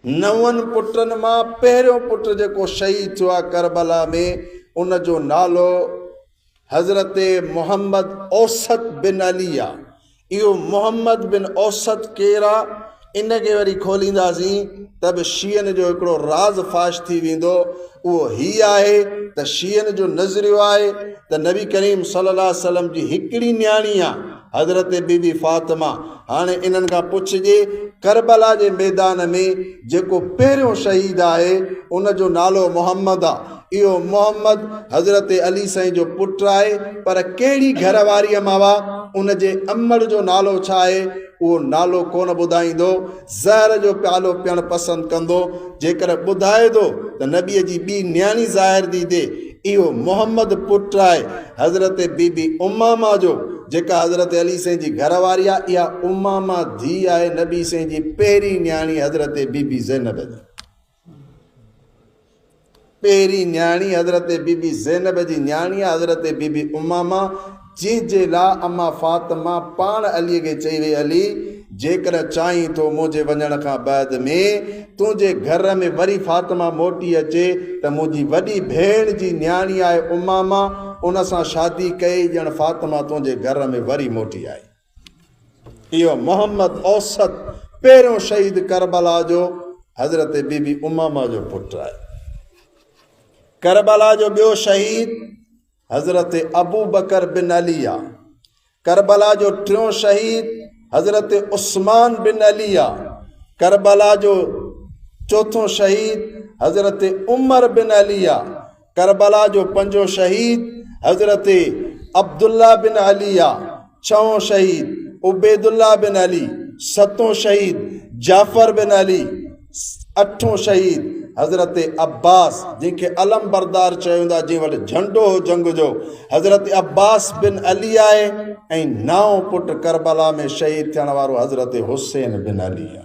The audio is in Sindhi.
نون پٽن مان پهريون پٽ جيڪو شهيد ٿيو آهي ڪربلا ۾ ان جو نالو حضرت محمد اوسط بن علي آهي. اهو محمد بن اوسط ڪير آهي ان کي وري کولينداسين ته به شيعن جو هڪڙو راز فاش ٿي ويندو اهو هي آهي ته شيعن جو نظريو آهي ته نبي ڪريم صلي الله عليه وسلم جي هڪڙي نياڻي آهي حضرت بي بي فاطمه، هاڻي انهن کان پڇجي، ڪربلا جي ميدان ۾ جيڪو پهريون شهيد آهي، ان جو نالو محمد آ. اهو محمد حضرت علي سائين جو پٽ آهي، پر ڪهڙي گهر واريء مان آ، ان جي امڙ جو نالو ڇا آهي، اهو نالو ڪونه ٻڌائيندو. زهر جو پيالو پيڻ پسند ڪندو، جيڪڏهن ٻڌائي ٿو ته نبيء جي ٻي نياڻي ظاهر ٿي ٿئي، اهو محمد پٽ آهي حضرت بي بي امامه جو، جيڪا حضرت علي سائين جي گهر واري آهي، اها امامه ڌيء آهي نبي سائين جي پهرين نياڻي حضرت بي بي زينب جي. پهرين نياڻي حضرت بي بي زينب جي نياڻي حضرت بي بي امامه جنهن جي لاء امان فاطمه پاڻ علي کي چئي وئي علي جيڪڏهن چاهين ٿو منهنجي وڃڻ کان بعد ۾ تنهنجي گهر ۾ وري فاطمه موٽي اچي ته منهنجي وڏي ڀيڻ جي نياڻي آهي امامه ان سان شادي ڪئي ڄڻ فاطمه تنهنجي گهر ۾ وري موٽي آئي. اهو محمد اوسط پهريون شهيد ڪربلا جو حضرت بي بي امامه جو پٽ آهي. ڪربلا جو ٻيو شهيد حضرت ابو بڪر بن علي آ. ڪربلا جو ٽيون شهيد حضرت عثمان بن علي آ. ڪربلا جو چوٿون شهيد حضرت عمر بن علي آ. ڪربلا جو پنجون شهيد حضرت عبدالله بن علي آ، ڇهون شهيد عبيدالله بن علي، ستون شهيد جعفر بن علي، اٺون شهيد حضرت عباس جنهن کي علم بردار چيو ويندو آهي جنهن وٽ جهنڊو هو جنگ جو حضرت عباس بن علي آهي ۽ نائون پٽ ڪربلا ۾ شهيد ٿيڻ وارو حضرت حسين بن علي آهي.